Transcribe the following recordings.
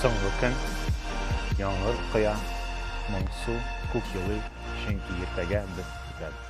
Соңгы көн, яңгыр коя, моңсу, күк елый, чөнки иртәгә без китәбез.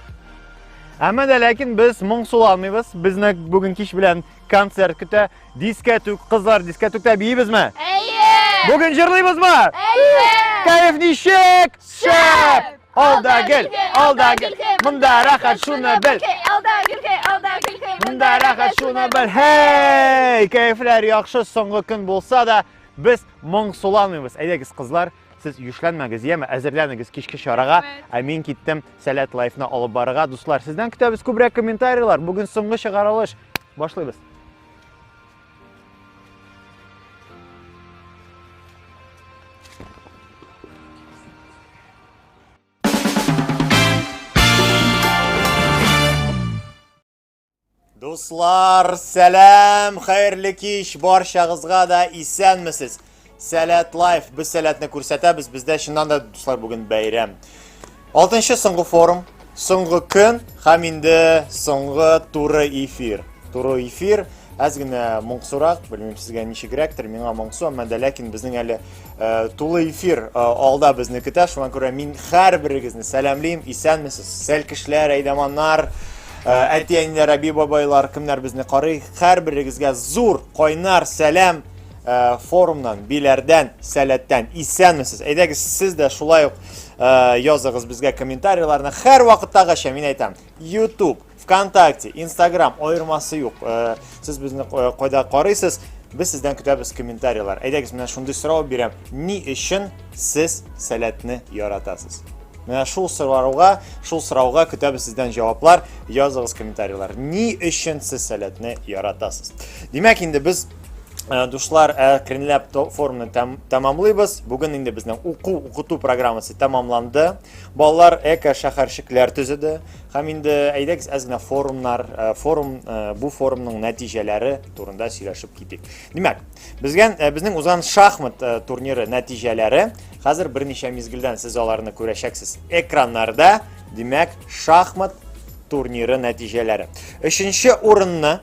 Әмма дә ләкин без моңсуланмыйбыз. Безне бүген кич белән концерт көтә. Дискәтүк, кызлар, дискәтүктә биебезме? Әйе! Бүген җырлыйбызмы? Әйе! Кәеф ничек? Шәп! Алда гел, алда гел, монда рәхәт шуны бел. Алда гелкәй, алда гелкәй, монда рәхәт шуны бел. Һей, кәефләр яхшы, соңгы көн булса да, без моң суламыйбыз. Әйдәгез, кызлар, сез юшләнмәгез, яме, әзерләнегез кичке чарага. Ә мин киттем Сәләт лайфны алып барырга. Дуслар, сездән көтәбез күбрәк комментарийлар. Бүген соңгы чыгарылыш. Башлыйбыз. Дуслар, сәлам, хәерле кич, баршагызга да исәнмесез. Сәләт лайф. Без сәләтне күрсәтәбез. Бездә чыннан да дуслар бүген бәйрәм. Алтынчы соңгы форум, соңгы көн һәм инде соңгы туры эфир. Туры эфир. Әз генә моңсурак, белмим сезгә ничегрәктер, миңа моңсу, әмма дә ләкин безнең әле э, тулы эфир э, алда безне көтә, шуңа күрә мин һәрберегезне сәламлим, исәнмесез, сәлкешләр, әйдаманнар, э, әти-әниләр, әби-бабайлар, кемнәр безне карый, һәрберегезгә зур, кайнар сәлам, Э, форумнан, биләрдән, сәләттән исәнмесез. Әйдәгез, сез дә шулай ук э, языгыз безгә комментарийларны. Хәр вакыттагыча мин әйтәм, YouTube, ВКонтакте, Instagram аермасы юк. Э, сез безне кайда карыйсыз? Без сездән көтәбез комментарийлар. Әйдәгез, менә шундый сорау бирәм. Ни өчен сез сәләтне яратасыз? Менә шул сорауга, шул сорауга көтәбез сездән җаваплар. Языгыз комментарийлар. Ни өчен сез сәләтне яратасыз? Димәк, инде без Э, душлар әкренләп э, форманы тәм, тәмамлыйбыз бүген инде безнең уку укыту программасы тәмамланды балалар эко шәһәрчекләр төзеде һәм инде әйдәгез әз генә форумнар э, форум бу форумның нәтиҗәләре турында сөйләшеп китик димәк безгә безнең узган шахмат турниры нәтиҗәләре хәзер берничә мизгелдән сез аларны күрәчәксез экраннарда димәк шахмат турниры нәтиҗәләре өченче урынны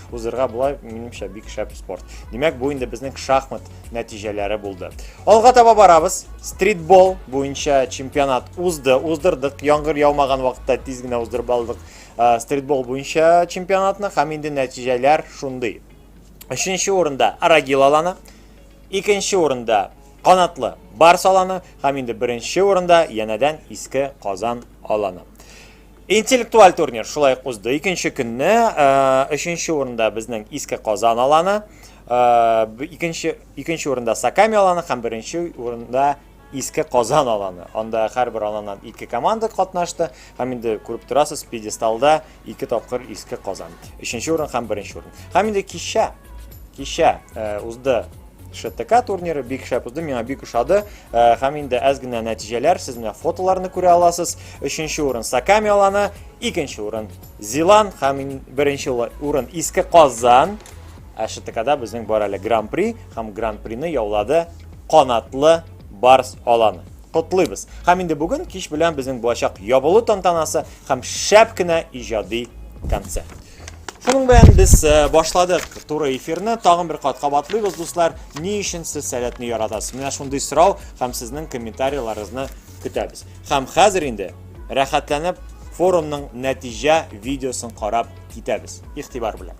Узырга була, минемчә, бик шәп спорт. Димәк, бу инде безнең шахмат нәтиҗәләре булды. Алга таба барабыз. Стритбол буенча чемпионат узды, уздырдык. Яңгыр яумаган вакытта тиз генә уздырып алдык э, стритбол буенча чемпионатны һәм инде нәтиҗәләр шундый. Өченче урында Арагил аланы, икенче урында Канатлы Барс аланы һәм инде беренче урында янәдән Иске Казан аланы. Интеллектуаль турнир шулай ук узды. Икенче көнне өченче урында безнең Иске Казан аланы, икенче икенче урында Саками аланы һәм беренче урында Иске Казан аланы. Анда һәрбер аланнан ике команда катнашты һәм инде күреп торасыз, пьедесталда ике тапкыр Иске Казан. Өченче урын һәм беренче урын. Һәм инде кичә кичә узды ШТК турниры бик шәп узды, миңа бик ошады. Э, һәм инде әз генә нәтиҗәләр, сез менә фотоларны күрә аласыз. Өченче урын Саками аланы, икенче урын Зилан һәм беренче урын Иске Казан. Ә ШТКда безнең бар әле Гран-при һәм Гран-прины яулады Канатлы Барс аланы. Котлыйбыз. Һәм инде бүген кич белән безнең булачак ябылу тантанасы һәм шәп кенә иҗади концерт. Шуның белән без э, башладык туры эфирны. Тагын бер кат кабатлыйбыз, дуслар. Ни өчен сез сәләтне яратасыз? Менә шундый сорау һәм сезнең комментарийларыгызны көтәбез. Һәм хәзер инде рәхәтләнеп форумның нәтиҗә видеосын карап китәбез. Игътибар белән.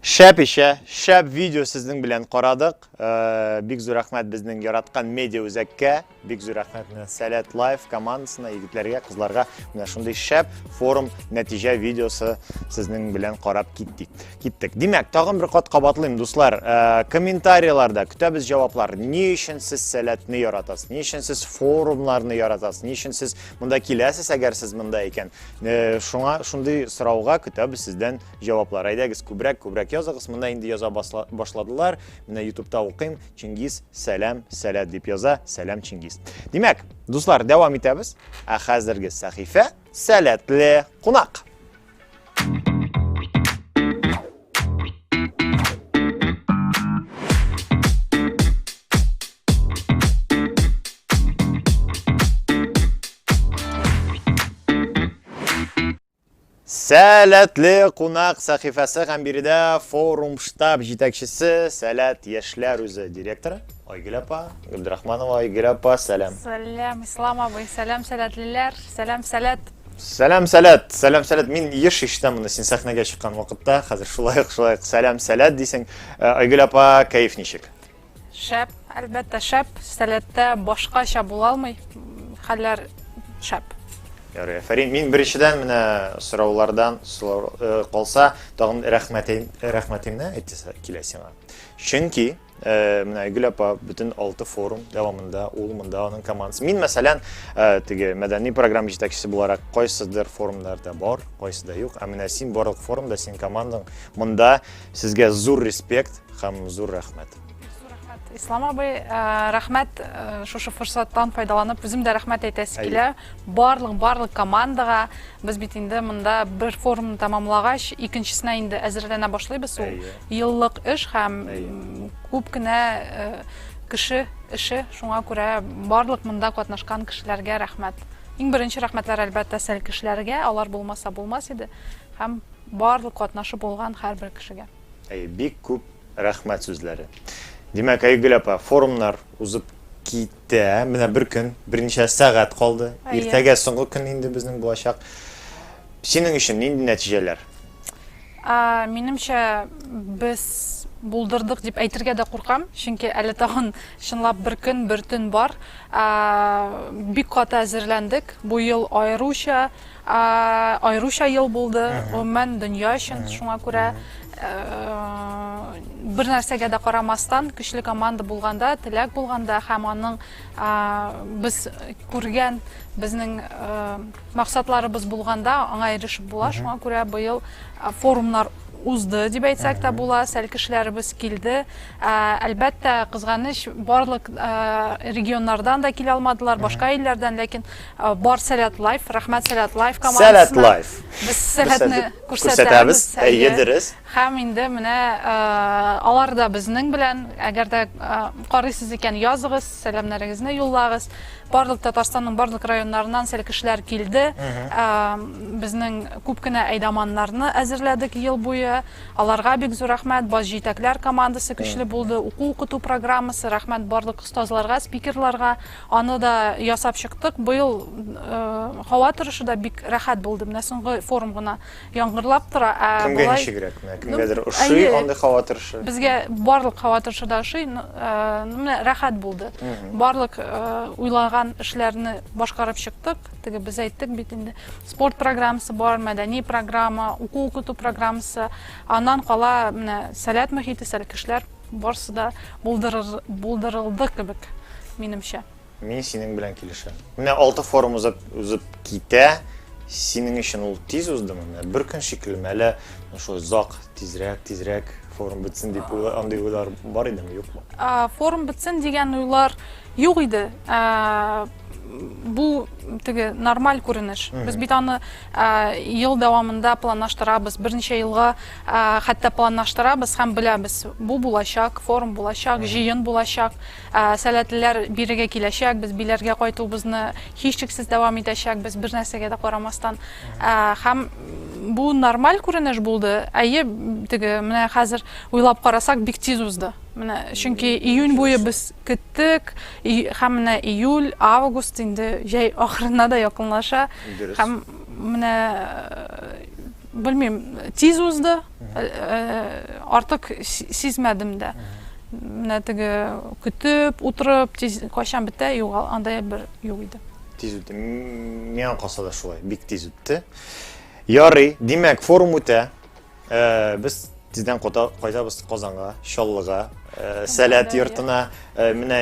Шәп ишә, шәп видео сезнең белән карадык. Э, бик зур рәхмәт безнең яраткан медиа үзәккә, бик зур рәхмәт менә Сәләт Лайф командасына, егетләргә, кызларга. Менә шундый шәп форум нәтиҗә видеосы сезнең белән карап киттек. Киттек. Димәк, тагын бер кат кабатлыйм, дуслар, э, комментарийларда көтәбез җаваплар. Ни өчен сез Сәләтне яратасыз? Ни өчен сез форумнарны яратасыз? Ни өчен сез монда киләсез, әгәр сез монда икән? Э, шуңа шундый сорауга көтәбез сездән җаваплар. Әйдәгез, күбрәк күбрәк языгыз. Менә инде яза башладылар. Менә YouTube'та укыйм. Чингиз, сәлам, сәләт дип яза. Сәлам Чингиз. Димәк, дуслар, дәвам итәбез. Ә хәзерге сәхифә сәләтле кунак. Сәләтле кунак сәхифәсе һәм биредә форум штаб җитәкчесе Сәләт яшьләр үзе директоры Айгөл апа, Гөлдрахманова Айгөл апа, сәлам. Сәлам, Ислам абый, сәлам, сәләтлеләр, сәлам, сәләт. Сәлам, сәләт, сәлам, сәләт. Мин еш ишетәм моны син сәхнәгә чыккан вакытта. Хәзер шулай ук, шулай ук сәлам, сәләт дисең. Э, Айгөл апа, кәеф ничек? Шәп, әлбәттә, шәп. Сәләттә башкача була алмый. Хәлләр шәп. Ярый, афәрин. Мин беренчедән менә сораулардан сорау э, калса, тагын рәхмәтем рәхмәтемне әйтәсе килә сиңа. Чөнки Э, менә Айгөл апа бөтен алты форум дәвамында ул монда аның командасы. Мин мәсәлән, э, теге мәдәни программа җитәкчесе буларак кайсыдыр форумнарда бар, кайсыда юк. Ә менә син барлык форумда, син командаң монда сезгә зур респект һәм зур рәхмәт. Ислам абый, э, рәхмәт шушы форсаттан файдаланып, үзем дә рәхмәт әйтәсе килә. Барлык, барлык командага без бит инде монда бер форумны тәмамлагач, икенчесенә инде әзерләнә башлыйбыз ул. Еллык эш һәм күп кенә кеше эше, шуңа күрә барлык монда катнашкан кешеләргә рәхмәт. Иң беренче рәхмәтләр әлбәттә сәл кешеләргә, алар булмаса булмас иде, һәм барлык катнашып булган һәрбер кешегә. Әйе, бик күп рәхмәт сүзләре. Димәк, Айгөл апа, форумнар узып кит Дә, менә бер көн, берничә сәгать калды. Иртәгә соңгы көн инде безнең булачак. Синең өчен нинди нәтиҗәләр? Минемчә, без булдырдык дип әйтергә дә куркам, чөнки әле тагын чынлап бер көн, бер төн бар. Бик каты әзерләндек. Бу ел аеруча Аеруча ел булды, гомумән дөнья өчен, шуңа күрә бер нәрсәгә дә карамастан, көчле команда булганда, теләк булганда һәм аның без күргән безнең максатларыбыз булганда аңа ирешеп була. Шуңа күрә быел форумнар узды дип әйтсәк тә була, сәл кешеләребез килде. Әлбәттә, кызганыч, барлык регионнардан да килә алмадылар, башка илләрдән, ләкин Э, бар сәләт лайф рәхмәт сәләт лайф командасына сәләт лайф без сәләтне күрсәтәбез әйе дөрес һәм инде менә э, алар да безнең белән әгәр дә э, карыйсыз икән языгыз сәламнәрегезне юллагыз барлык татарстанның барлык районнарыннан сәл кешеләр килде безнең күп кенә әйдаманнарны әзерләдек ел буе аларга бик зур рәхмәт баш җитәкләр командасы көчле булды уку укыту программасы рәхмәт барлык остазларга спикерларга Аны да ясап чыктык. Быел һава торышы да бик рәхәт булды. Менә соңгы форум гына яңгырлап тора. Ә Кемгә болай ничегрәк? Менә кемгәдер ну, ошый әйе, андый һава торышы. Безгә барлык һава торышы да ошый. Ну, Менә рәхәт булды. Барлык уйлаган эшләрне башкарып чыктык. Теге без әйттек бит инде. Спорт программасы бар, мәдәни программа, уку-укыту программасы. Аннан кала менә сәләт мөхите, сәләт кешеләр Барсы да булдырыр, булдырылды кебек, минемчә. Мин синең белән килешәм. Менә алты форум узып, узып китә. Синең өчен ул тиз уздымы? Менә бер көн шикелле, әле шулай зак, тизрәк, тизрәк форум бетсен дип уйлар, андый уйлар бар идеме, юкмы? А, форум бетсен дигән уйлар юк иде. А, бу теге нормаль күренеш. Без бит аны ел дәвамында планлаштырабыз берничә елга хәтта планлаштырабыз һәм беләбез бу булачак форум булачак җыен булачак сәләтлеләр бирегә киләчәк без биләргә кайтуыбызны һичшиксез дәвам итәчәкбез бер нәрсәгә дә карамастан һәм бу нормаль күренеш булды әйе теге менә хәзер уйлап карасак бик тиз узды менә чөнки июнь буе без көттек Һәм менә июль, август инде җәй ахырына да якынлаша. Дөрес. Һәм менә белмим, тиз узды. Артык сизмәдем дә. Менә теге көтеп, утырып, тиз кайчан бетә, югал, андай бер юк иде. Тиз үтте. Миңа калса да шулай, бик тиз үтте. Ярый, димәк, форум үтә. Э, без тиздән кайтабыз Казанга, Чаллыга, э, Сәләт йортына. Э, менә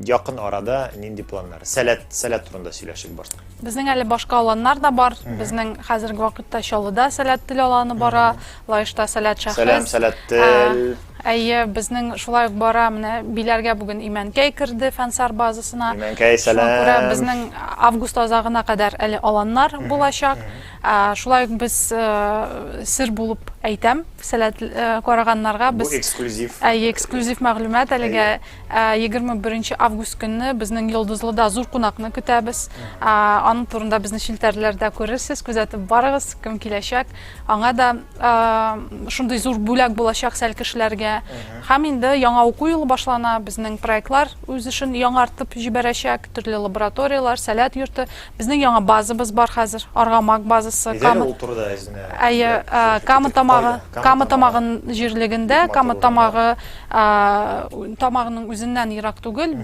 якын арада нинди планнар? Сәләт, Сәләт турында сөйләшик бар. Безнең әле башка аланнар да бар. Безнең хәзерге вакытта Чаллыда Сәләт тел аланы бара, Лаешта Сәләт шәхес. Сәлам, Сәләт тел. Әйе, безнең шулай ук бара, менә Биләргә бүген Имәнкәй керде фәнсар базасына. Имәнкәй, сәлам. Шуңа күрә безнең август азагына кадәр әле аланнар булачак. Шулай ук без сер булып әйтәм, сәләт караганнарга без. Бу эксклюзив. Әйе, эксклюзив мәгълүмат әлегә. 21 август көнне безнең Йолдызлыда зур кунакны көтәбез. Аның турында безне челтәрләрдә күрерсез, күзәтеп барыгыз, кем киләчәк. Аңа да шундый зур бүләк булачак сәл кешеләргә. Һәм инде яңа уку елы башлана, безнең проектлар үз эшен яңартып җибәрәчәк, төрле лабораторияләр, сәләт йорты. Безнең яңа базабыз бар хәзер, Аргамак базасы. Әйдә әле ул турыда әзенә. Әйе, Кама тамагы, Кама тамагы җирлегендә, Кама тамагы тамагының үзеннән ерак түгел,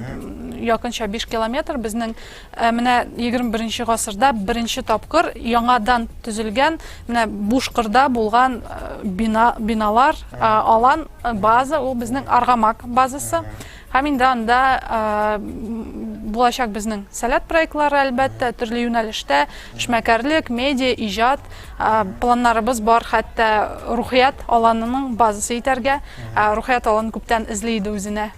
якынча 5 километр. Безнең менә 21 гасырда беренче тапкыр яңадан төзелгән, менә буш кырда булган бина, биналар, алан, база, ул безнең Аргамак базасы. Һәм инде анда булачак безнең сәләт проектлары, әлбәттә, төрле юнәлештә, эшмәкәрлек, медиа, иҗат планнарыбыз бар, хәтта рухият аланының базасы итәргә. Рухият аланы күптән эзли иде үзенә.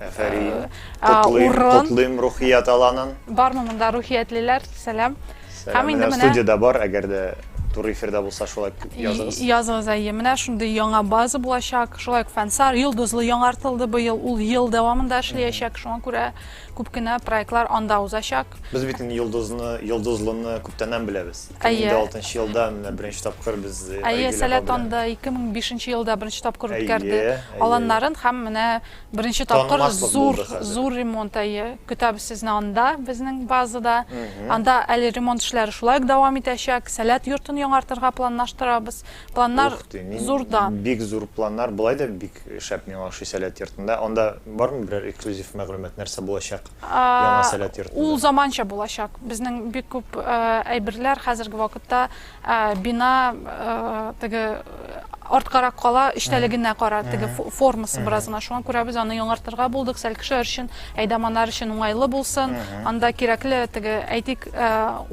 Афәрин! Котлыйм, котлыйм рухият аланын! Бармы монда рухиятлеләр? Сәлам! Һәм инде менә студиядә бар, әгәр дә туры эфирда булса, шулай языгыз. Языгыз, әйе. Менә шундый яңа база булачак. Шулай ук Фәнсар йолдызлы яңартылды быел. Ул ел дәвамында эшләячәк. Шуңа күрә күп кенә проектлар анда узачак. Без бит инде йолдызны, йолдызлыны күптәннән беләбез. 2006 елда менә беренче тапкыр без Әйе, Сәләт анда 2005 елда беренче тапкыр үткәрде. Аланнарын һәм менә Беренче тапкыр Танымаслык зур, булды хәзер. зур ремонт әйе. Көтәбез сезне анда, безнең базада. Анда әле ремонт эшләре шулай ук дәвам итәчәк. Сәләт йортын яңартырга планлаштырабыз. Планнар Ух ты, мин зурда. бик зур планнар. Болай да бик шәп миңа ошый Сәләт йортында. Анда бармы берәр эксклюзив мәгълүмат, нәрсә булачак А, яңа Сәләт Ул йортында? заманча булачак. Безнең бик күп э, әйберләр хәзерге вакытта Ә бина теге арткарак кала, эчтәлегенә кара, теге формасы бераз гына. Шуңа күрә без аны яңартырга булдык, сәл кешеләр өчен, әйдаманнар өчен уңайлы булсын. Анда кирәкле теге, әйтик,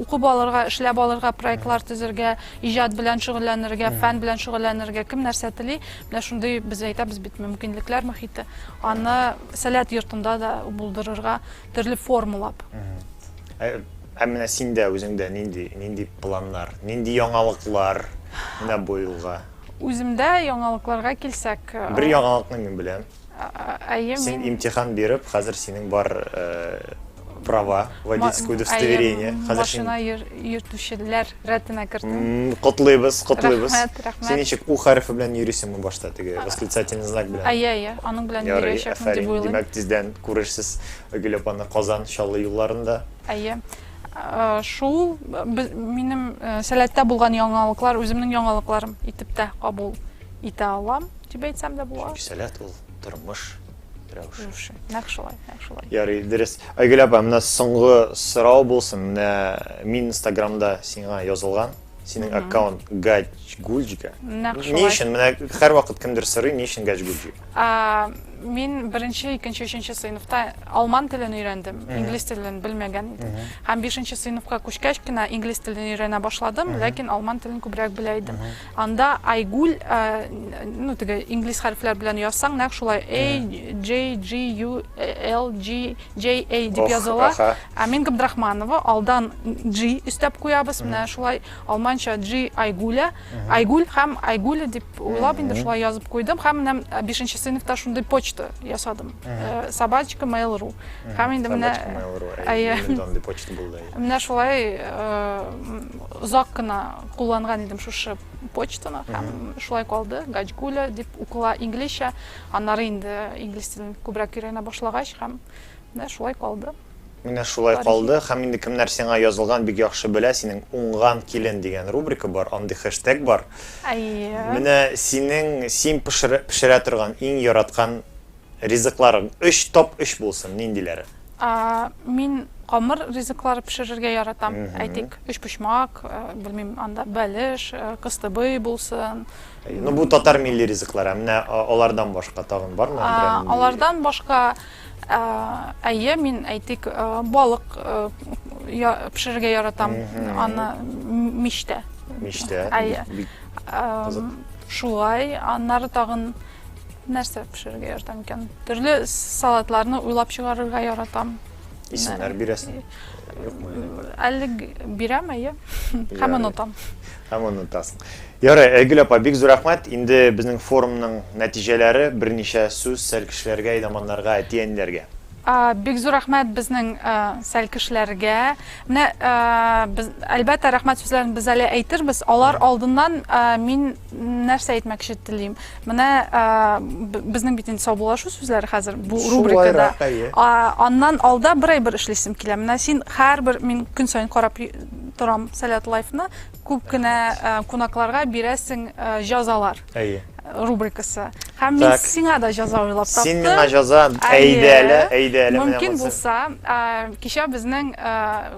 укып алырга, эшләп алырга, проектлар төзергә, иҗат белән шөгыльләнергә, фән белән шөгыльләнергә кем нәрсә тели, менә шундый без әйтәбез бит, мөмкинлекләр мохите. Аны Сәләт йортында да булдырырга, төрле формалап. Ә менә синдә, үзеңдә нинди, нинди планнар, нинди яңалыклар менә бу елга? Үземдә яңалыкларга килсәк. Бер яңалыкны мин беләм. Әйе, мин. Син имтихан биреп, хәзер синең бар права, водительское удостоверение. Әйе, машина йөртүчеләр рәтенә кердем. Котлыйбыз, котлыйбыз. Рәхмәт, рәхмәт. Син ничек, у хәрефе белән йөрисеңме башта, теге восклицательный знак белән? Әйе, әйе, аның белән йөриячәкмен дип уйлыйм. Ярый, әфәрин. Димәк, тиздән күрерсез Гөл апаны Казан, Чаллы юлларында. Әйе. Шул минем сәләттә булган яңалыклар, үземнең яңалыкларым итеп тә кабул итә алам, дип әйтсәм дә була. Чөнки сәләт ул тормыш рәвеше. Нәкъ шулай, нәкъ шулай. Ярый, дөрес. Айгөл апа, менә соңгы сорау булсын. Менә мин Инстаграмда сиңа язылган, Синең аккаунт Гачгульджика. Нәкъ шулай. Ни өчен? Менә һәрвакыт кемдер сорый, ни өчен Гачгульджик? А, мин беренче, икенче, өченче сыйныфта алман телен өйрәндем, инглиз телен белмәгән идем. Һәм бишенче сыйныфка күчкәч кенә инглиз телен өйрәнә башладым, ләкин алман телен күбрәк белә идем. Анда Айгуль, а, ну, теге инглиз хәрефләр белән язсаң, нәкъ шулай A, J, G, U, L, G, JA дип языла. Амин Габдрахманова алдан G өстәп куябыз. Менә шулай алманча G Айгуля, Айгуль һәм Айгуля дип уйлап инде шулай язып куйдым. Һәм менә 5 нче сыйныфта шундый почта ясадым. Э, собачка mail.ru. Һәм инде менә андый почта булды. Менә шулай э, озак кына кулланган идем шушы почтаны һәм шулай калды. Гачгуля дип укыла инглизчә. Аннары инде инглиз телен күбрәк өйрәнә башлагач һәм менә шулай калды. Менә шулай калды һәм инде кемнәр сиңа язылган бик яхшы белә, синең Уңган килен дигән рубрика бар, андый хэштег бар. Әйе. Менә синең син пешерә пешерә торган иң яраткан ризыкларың, өч топ өч булсын, ниндиләре? А, мин камыр ризыклар пешерергә яратам, әйтик, өчпочмак, белмим, анда бәлеш, кыстыбый булсын. Ну бу татар милли ризыклар, ә менә алардан башка тагын бармы? Алардан башка әйе, мин әйтик, балык пешерергә яратам, аны мичтә. Мичтә. Әйе. Шулай, аннары тагын нәрсә пешерергә яратам икән? Төрле салатларны уйлап чыгарырга яратам. Исемнәр бирәсең? Әле бирәм, әйе. Һәм онытам. Һәм онытасың. Ярый, Айгөл апа, бик зур рәхмәт. Инде безнең форумның нәтиҗәләре, берничә сүз Сәлкешләргә, Идаманнарга, әти-әниләргә. Бик зур рәхмәт безнең Сәлкешләргә. Менә, әлбәттә, рәхмәт сүзләрен без әле әйтербез. Алар алдыннан мин нәрсә әйтмәкче телим. Менә безнең бит инде саубуллашу сүзләре хәзер бу рубрикада. Шулайрак, әйе. Аннан алда бер әйбер эшлисем килә. Менә син һәрбер, мин көн саен карап торам сәләт лайфны күп кенә э, кунакларга бирәсең э, җазалар әйе рубрикасы һәм мин сиңа да җаза уйлап таптым син миңа җаза әйдә әле әйдә әле мөмкин булса э, кичә безнең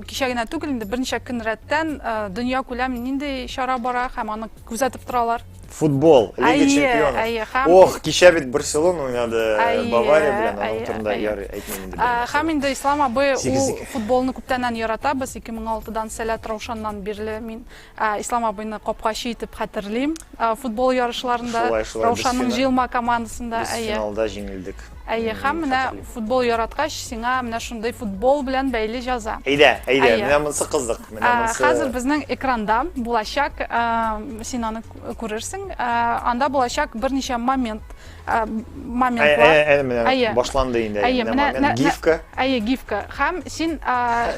кичә генә түгел инде берничә көн рәттән дөнья күләм нинди чара бара һәм аны күзәтеп торалар Футбол, Лига Әйе, чемпионов. әйе, һәм- Ох, кичә бит Барселона уйнады э, Әйе, Бавария белән, аның әйе, турында әйе. ярый әйтмим инде. Ә, белмәсәм. Һәм инде Ислам абый ул Сигезлек. футболны күптәннән ярата. Без 2006дан Сәләт Раушаннан бирле мин ә, Ислам абыйны капкачы итеп хәтерлим. Ә, Футбол ярышларында Шулай, шулай, без Раушанның фина- җыелма командасында. Без Әйе. финалда җиңелдек. Әйе, һәм менә футбол яраткач, сиңа менә шундый футбол белән бәйле җаза. Әйдә, әйдә, Әйе. менә монсы кызык, менә Ә, монсы. Хәзер безнең экранда булачак, ә, син аны кү- күрерсең, ә, анда булачак берничә момент, ә, Ә, моментлар. ә, ә, менә Әйе. башланды инде, Әйе, менә менә- момент, нә- гифка. Әйе, гифка. Һәм син, ә,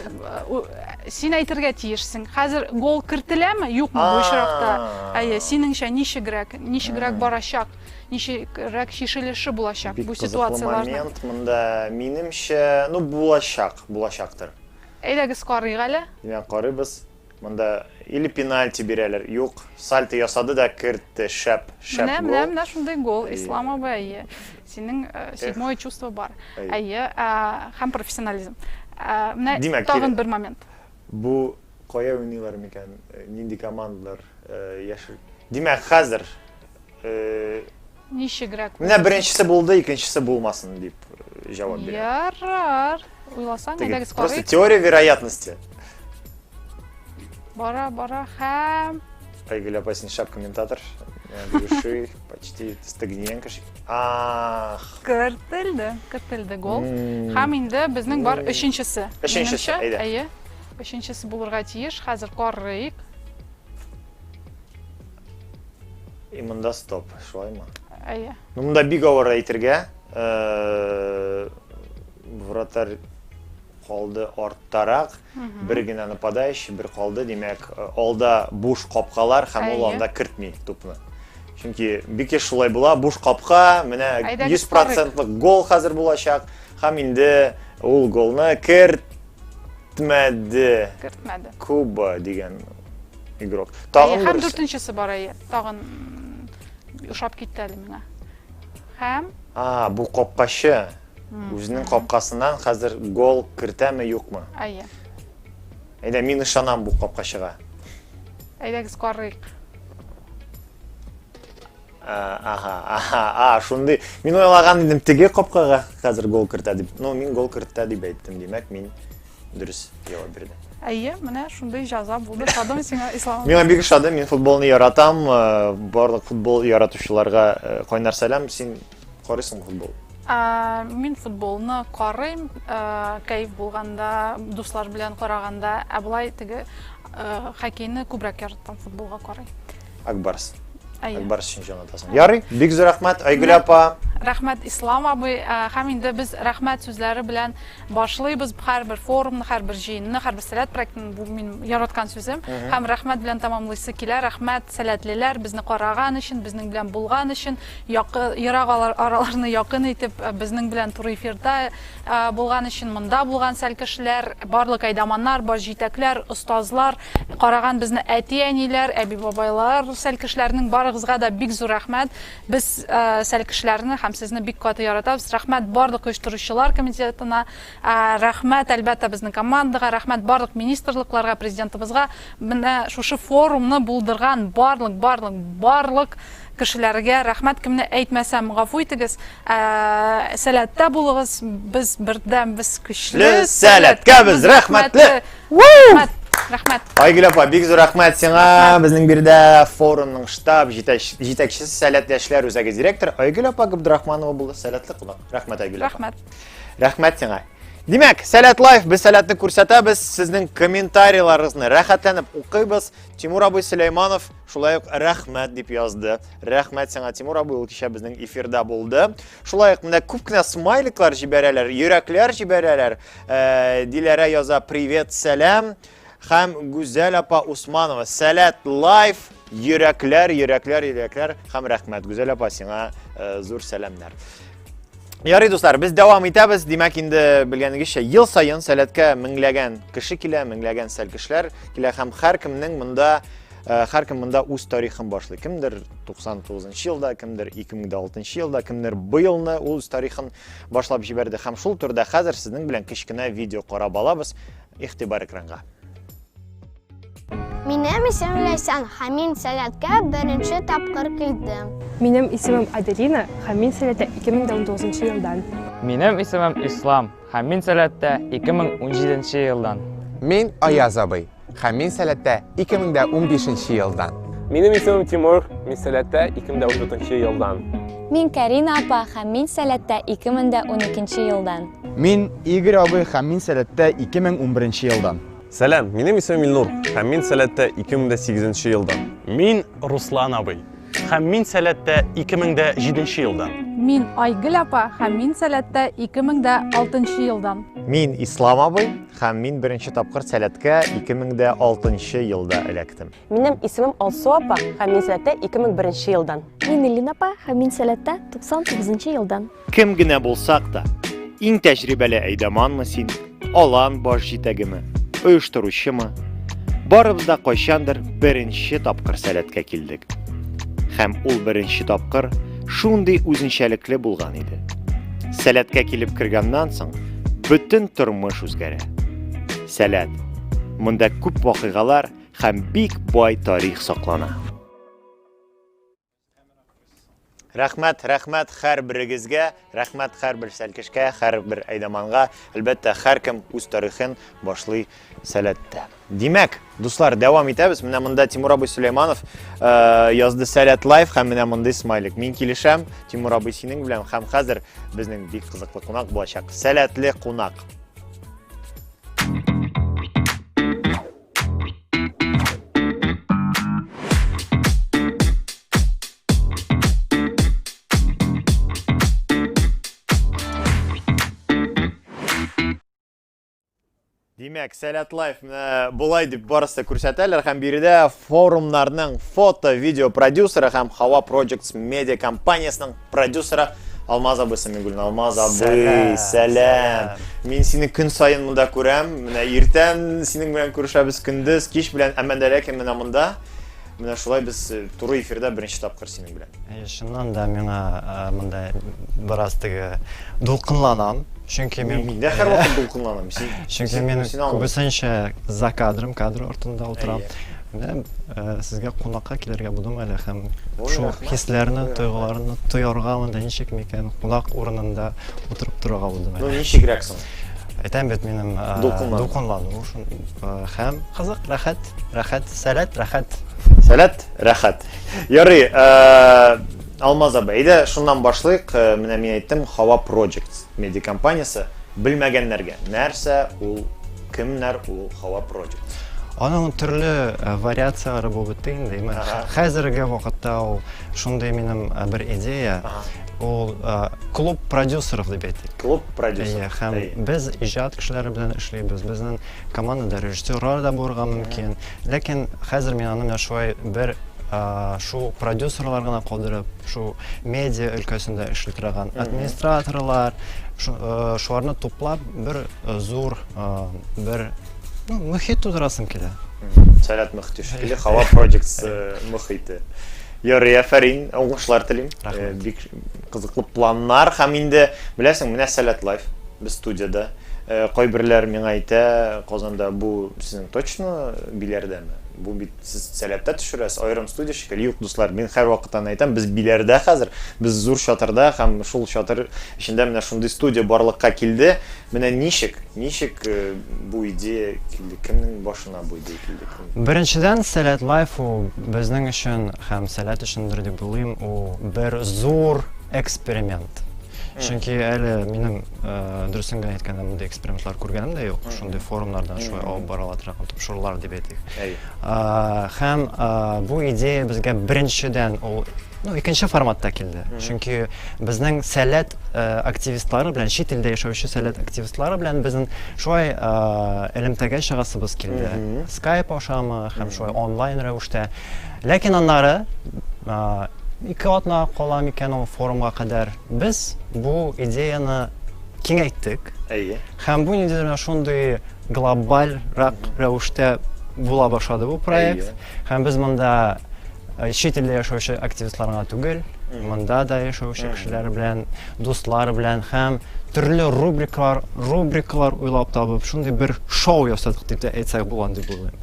у- син әйтергә тиешсең. Хәзер гол кертеләме, юкмы бу очракта? А. Әйе, синеңчә ничегрәк, ничегрәк барачак? Ничегрәк чишелеше булачак Бик бу кызыклы ситуацияләрнең? момент монда минемчә, ну булачак, булачактыр. Әйдәгез карыйк әле. Димәк, карыйбыз. Монда или пенальти бирәләр, юк, сальто ясады да кертте, шәп, шәп Менә, менә, гол. менә шундый гол, Әйе. Ислам абый, әйе. Синең э, седьмое чувство бар. Әйе. Әйе, ә, һәм профессионализм. Ә, Менә Димәк, тагын кире- бер момент. Бу кая уйныйлар микән, э, нинди командалар э, яшел? Димәк, хәзер Ничегрәк. Менә беренчесе булды, икенчесе булмасын дип э, җавап бирә. Ярар. Уйласаң, әйдәгез карыйк. Просто теория вероятности. Бара, бара һәм Айгель апа син шап комментатор. Души, почти стагненко. Ах. Кертелде, кертелде гол. Һәм инде безнең бар өченчесе. Өченчесе, әйдә. Әйе. Өченчесе булырга тиеш. Хәзер карыйк. И монда стоп, шулаймы? Әйе. Ну, монда бик авыр әйтергә. Э, вратарь калды арттарак, бер генә нападающий, бер калды, димәк, э, алда буш капкалар һәм ул анда кертми тупны. Чөнки бик еш шулай була, буш капка, менә 100% гол хәзер булачак һәм инде ул голны керт Кертмәде. Кертмәде. Куба дигән игрок. Тагын Әйе, һәм дүртенчесе бар әйе. Тагын ошап китте әле миңа. Һәм А, бу капкачы. Үзенең капкасыннан хәзер гол кертәме, юкмы? Әйе. Әйдә, мин ышанам бу капкачыга. Әйдәгез карыйк. Ага, шундый. Мин уйлаган идем теге капкага хәзер гол кертә дип. Но мин гол кертә дип әйттем, димәк мин дөрес җавап бирдем. Әйе, менә шундый җаза булды. Шадым сиңа, Ислам. Миңа бик шадым, мин футболны яратам. Э, барлык футбол яратучыларга э, кайнар сәлам. Син Карыйсың футбол? Ә, мин футболны карыйм, ә, кәеф булганда, дуслар белән караганда, ә болай теге ә, хоккейны күбрәк яратам футболга карый. Акбарс. Әйе. Акбарс өчен җанатасың. Ярый, бик зур рәхмәт, Айгөл апа. Рәхмәт Ислам абый, ә, һәм инде без рәхмәт сүзләре белән башлыйбыз һәрбер форумны, һәрбер җыенны, һәрбер сәләт проектын, бу мин яраткан сүзем. Һәм рәхмәт белән тәмамлыйсы килә. Рәхмәт сәләтлеләр безне караган өчен, безнең белән булган өчен. Якы, ерак араларны якын итеп, безнең белән туры эфирда булган өчен, монда булган сәл кешеләр, барлык әйдаманнар, баш җитәкләр, остазлар, караган безне әти-әниләр, әби-бабайлар, сәл кешеләрнең барыгызга да бик зур рәхмәт. Без сәл кешеләрне һәм сезне бик каты яратабыз. Рәхмәт барлык оештыручылар комитетына, Рәхмәт, әлбәттә, безнең командага, рәхмәт барлык министрлыкларга, президентыбызга, менә шушы форумны булдырган барлык, барлык, барлык кешеләргә рәхмәт, кемне әйтмәсәм, гафу итегез. Сәләттә булыгыз, без бердәм, без көчле. Сәләткә без рәхмәтле! Рәхмәт! Рәхмәт. Айгөл апа, бик зур рәхмәт сиңа. Безнең биредә форумның штаб җитәкчесе, сәләтле яшьләр үзәге директоры Айгөл апа Габдрахманова булды. Сәләтле кунак. Рәхмәт, Айгөл апа. Рәхмәт. Рәхмәт сиңа. Димәк, Сәләт Лайф, без сәләтне күрсәтәбез, сезнең комментарийларыгызны рәхәтләнеп укыйбыз. Тимур абый Сөләйманов шулай ук рәхмәт дип язды. Рәхмәт сиңа, Тимур абый, ул кичә безнең эфирда булды. Шулай ук менә күп кенә смайликлар җибәрәләр, йөрәкләр җибәрәләр. Э, Диләрә яза: "Привет, сәлам". Хәм Гүзәл апа Усманова, Сәләт Лайф, йөрәкләр, йөрәкләр, йөрәкләр, хәм рәхмәт, Гүзәл апа, сиңа э, зур сәләмнәр. Ярый, дуслар, без дәвам итәбез. Димәк, инде белгәнегезчә, ел саен сәләткә меңләгән кеше килә, меңләгән сәлкешләр килә һәм һәркемнең монда э, һәркем монда үз тарихын башлый. Кемдер 99 нчы елда, кемдер 2006 нчы елда, кемдер быелны үз тарихын башлап җибәрде. Һәм шул турыда хәзер сезнең белән кечкенә видео карап алабыз. Игътибар экранга. Минем исемем Ләйсән, һәм мин сәләткә беренче тапкыр килдем. Минем исемем Аделина, һәм мин сәләттә 2019 елдан. Минем исемем Ислам, һәм мин сәләттә 2017 елдан. Мин Аяз абый, һәм мин сәләттә 2015 елдан. Минем исемем Тимур, мин сәләттә 2014 елдан. Мин Карина апа һәм мин Сәләттә 2012 елдан. Мин Игорь абый һәм мин Сәләттә 2011 елдан. Сәлам, минем исемем Илнур һәм мин Сәләттә 2008 елдан. Мин Руслан абый һәм мин Сәләттә 2007 елдан. Мин Айгөл апа һәм мин Сәләттә 2006 елдан. Мин Ислам абый һәм мин беренче тапкыр Сәләткә 2006 елда эләктем. Минем исемем Алсу апа, һәм мин сәләттә 2001 елдан. Мин Эллин апа, һәм мин сәләттә 99 елдан. Кем генә булсак та, иң тәҗрибәле әйдаманмы син, алан баш җитәгеме, оештыручымы? Барыбыз да кайчандыр беренче тапкыр сәләткә килдек. Һәм ул беренче тапкыр шундый үзенчәлекле булган иде. Сәләткә килеп кергәннән соң бөтен тормыш үзгәрә. Сәләт. Монда күп вакыйгалар Һәм бик бай тарих саклана. Рәхмәт, рәхмәт хәр берегезгә, рәхмәт хәр бер сәлкешкә, хәр бер әйдаманга. Әлбәттә, хәр кем үз тарихын башлый сәләттә. Димәк, дуслар, дәвам итәбез. Менә монда Тимур абый Сөләйманов э, язды Сәләт лайф һәм менә мондый смайлик. Мин килешәм, Тимур абый синең белән һәм хәзер безнең бик кызыклы кунак булачак. Сәләтле кунак. Димәк, Сәләт Лайф менә болай дип барысы күрсәтәләр һәм биредә форумнарның фото-видео продюсеры һәм Хава Projects медиа компаниясенең Продюсера Алмаз абый Самигулин. Алмаз абый, сәлам. Мин сине көн саен монда күрәм. Менә иртән синең белән күрешәбез күндез, кич белән, әмма дә ләкин менә монда менә шулай без э, туры эфирда беренче тапкыр синең белән. Э, чыннан да миңа э, монда бераз теге дулкынланам. Чөнки мин миндә һәрвакыт дулкынланам. Чөнки мин күбесенчә за кадром, кадр артында утырам. Менә сезгә кунакка килергә булдым әле һәм шул хисләрне, тойгыларны тоярга монда ничек микән кунак урынында утырып торырга булдым әле. Ну ничегрәк соң? Әйтәм бит минем дулкынлану шул һәм кызык, рәхәт, рәхәт, сәләт, рәхәт. Сәләт, рәхәт. Ярый, Алмаз абый, әйдә шуннан башлыйк. Менә мин әйттем, Хава Projects медиакомпаниясе. Белмәгәннәргә, нәрсә ул Кемнәр ул һава против? Аның төрле вариацияләре булып бетте инде. Хәзерге вакытта ул шундый минем бер идея. Ул клуб продюсеров дип әйтик. Клуб продюсер. Һәм без иҗат кешеләре белән эшлибез. Безнең командада режиссерлар да булырга мөмкин. Ләкин хәзер мин аны менә шулай бер шул продюсерлар гына калдырып, шул медиа өлкәсендә эшли торган администраторлар, шуларны туплап бер зур бер ну, мөхит тудырасым килә. Сәләт мөхите шикелле, Хава Projects мөхите. Ярый, афәрин, уңышлар телим. Бик Кызыклы планнар һәм инде, беләсең, менә Сәләт Лайф, без студиядә. Кайберләр миңа әйтә, Казанда бу сезнең точно Биләрдәме? Бу бит сез Сәләттә төшерәсез, аерым студия шикелле. Юк, дуслар, мин һәрвакыт аны әйтәм, без Биләрдә хәзер, без зур чатырда һәм шул чатыр эчендә менә шундый студия барлыкка килде. Менә ничек, ничек бу идея килде, кемнең башына? Беренчедән, Сәләт Лайф ул безнең өчен һәм Сәләт өчендер дип уйлыйм, ул бер зур эксперимент. Чөнки әле минем дөресен генә әйткәндә мондый экспериментлар күргәнем дә юк. Шундый форумнардан шулай алып барыла торган тапшырулар дип әйтик. Һәм бу идея безгә беренчедән ул Ну, икенче форматта килде. Чөнки безнең сәләт э, активистлары белән, чит илдә яшәүче сәләт активистлары белән безнең шулай э, элемтәгә чыгасыбыз килде. Скайп ашамы һәм шулай онлайн рәвештә. Ләкин аннары э, ике атна кала микән ул форумга кадәр без бу идеяны киңәйттек. Әйе. Һәм бу нидер шундый глобальрак рәвештә була башлады бу проект. Һәм без монда Чит илдә яшәүче активистлар гына түгел, монда да яшәүче кешеләр белән, дуслар белән һәм төрле рубрикалар, рубрикалар уйлап табып, шундый бер шоу ясадык дип тә әйтсәк булган дип уйлыйм.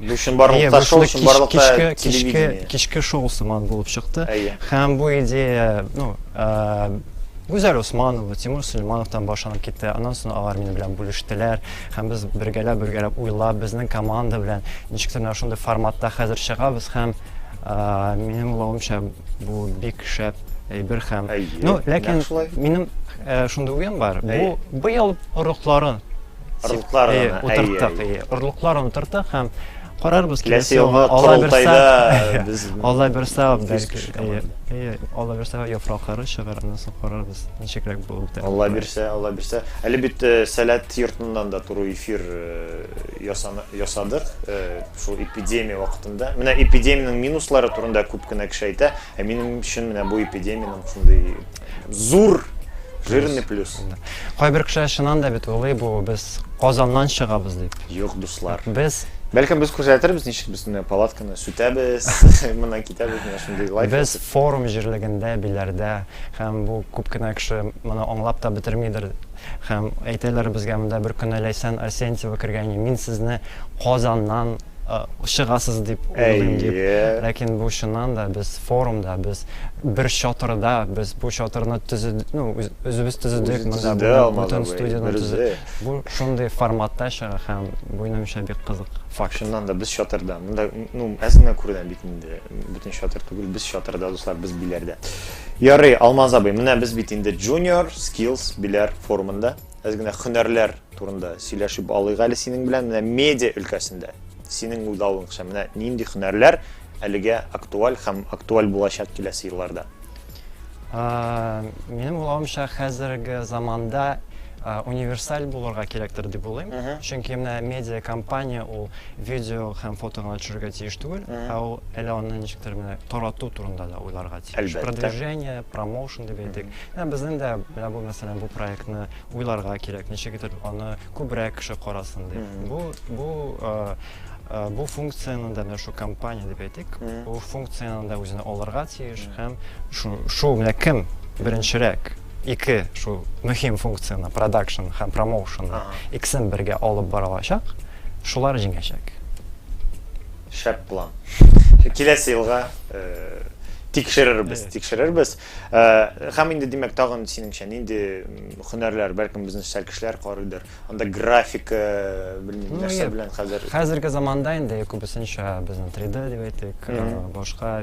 Бу чынбарлыкта шоу, чынбарлыкта кичке, кичке, кичке шоу сыман булып чыкты. Һәм бу идея, ну, Гүзәл Усманова, Тимур Сөлеймановтан башланып китте. Аннан соң алар минем белән бүлештеләр. Һәм без бергәләп-бергәләп уйлап, безнең команда белән ничектер менә шундый форматта хәзер чыгабыз һәм а, минем уйлавымча бу бик шәп әйбер һәм Әйе, ну нәкъ ләкин шулай. минем э, шундый уем бар бу Әйе. быел орлыкларын Орлыкларын, әйе, әйе, утырттык әйе. әйе орлыкларын утырттык һәм Карарбыз киләсе елга корылтайда без Алла бирса бәлки әйе Алла бирса яфраклары чыгар аннан соң карарбыз ничегрәк булып та Алла бирсә Алла бирсә әле бит э, сәләт йортыннан да туры эфир э, ясадык э, шул эпидемия вакытында менә эпидемиянең минуслары турында күп кенә кеше әйтә Ә минем өчен менә бу эпидемиянең шундый зур жирный плюс. Кайбер кешеләр чыннан да бит уйлый бу без Казаннан чыгабыз дип. Юк, дуслар. Без Бәлкем без күрсәтербез, ничек без менә палатканы сүтәбез, моннан китәбез, менә шундый лайф. Без форум җирлегендә, Биләрдә һәм бу күп кенә кеше моны аңлап та бетермидер. Һәм әйтәләр безгә монда бер көнне Ләйсән Арсентьева кергәни, мин сезне Казаннан чыгасыз дип уйлыйм дип. Ләкин бу чыннан да без форумда, без бер чатырда, без бу чатырны төзедек, ну, үзебез төзедек, монда бөтен студияне төзедек. Бу шундый форматта чыга һәм бу минемчә бик кызык факт. Чыннан да без чатырда. Монда, ну, әз генә күренә бит инде, бөтен чатыр түгел, без чатырда, дуслар, без биләрдә. Ярый, Алмаз абый, менә без бит инде Junior Skills Беләр форумында. Әз генә хөнәрләр турында сөйләшеп алыйк әле синең белән. Менә медиа өлкәсендә синең уйлавыңча менә нинди хөнәрләр әлегә актуаль һәм актуаль булачак киләсе елларда? Минем уйлавымча, хәзерге заманда универсаль булырга кирәктер дип уйлыйм. Чөнки менә медиа компания ул видео һәм фото гына төшерергә тиеш түгел, ә ул әле аны ничектер менә тарату турында да уйларга Әлбәттә. Продвижение, промоушен дип әйтик. Менә безнең дә менә бу мәсәлән бу проектны уйларга кирәк, ничек итеп аны күбрәк кеше карасын дип. Бу, бу, бу функцияне дә менә шул компания дип әйтик, бу функцияне дә үзенә алырга тиеш һәм шул, шул менә кем беренчерәк ике шул мөһим функцияне, продакшн һәм промоушн, икесен бергә алып бара алачак, шулар җиңәчәк. Шәп план. Киләсе елга тикшерербез, тикшерербез. Һәм инде, димәк, тагын синеңчә нинди һөнәрләр, бәлкем безнең социаль кешеләр карыйдыр. Анда графика, белмим, нәрсә белән хәзер. Хәзерге заманда инде күбесенчә безнең 3D дип әйтик, башка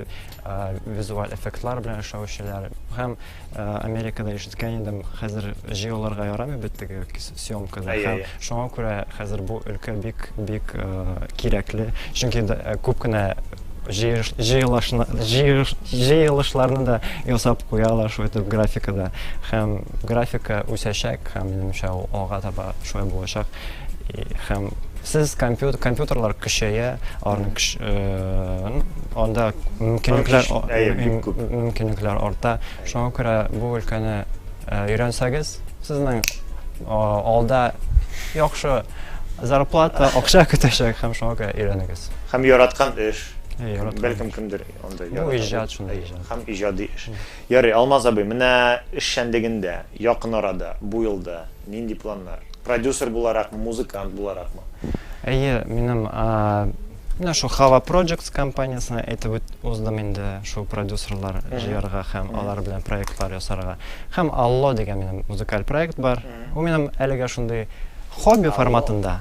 визуаль эффектлар белән эшләүчеләр һәм Америкада ишеткән идем, хәзер җыяуларга ярамый бит теге съемкада. Әйе, әйе. Һәм шуңа күрә хәзер бу өлкә бик бик кирәкле. Чөнки күп кенә җыелышларны да ясап куялар шулай итеп графикада. Һәм графика үсәчәк һәм минемчә ул алга таба шулай булачак. Һәм сез компьютерлар көчәя, анда мөмкинлекләр арта. Шуңа күрә бу өлкәне өйрәнсәгез, сезнең алда яхшы зарплата, акча көтәчәк һәм шуңа күрә өйрәнегез. Һәм яраткан эш. Бәлкем кемдер анда яратыр. Бу иҗат шундый иҗат. Һәм иҗади эш. Ярый, Алмаз абый, менә эшчәнлегендә якын арада, бу елда Нинди планнар? Продюсер буларакмы, музыкант буларакмы? Әйе, минем менә шул Хава Projects компаниясенә әйтеп уздым инде, шул продюсерлар җыярга һәм алар белән проектлар ясарга. Һәм Алло дигән минем музыкаль проект бар. Ул минем әлегә шундый хобби форматында.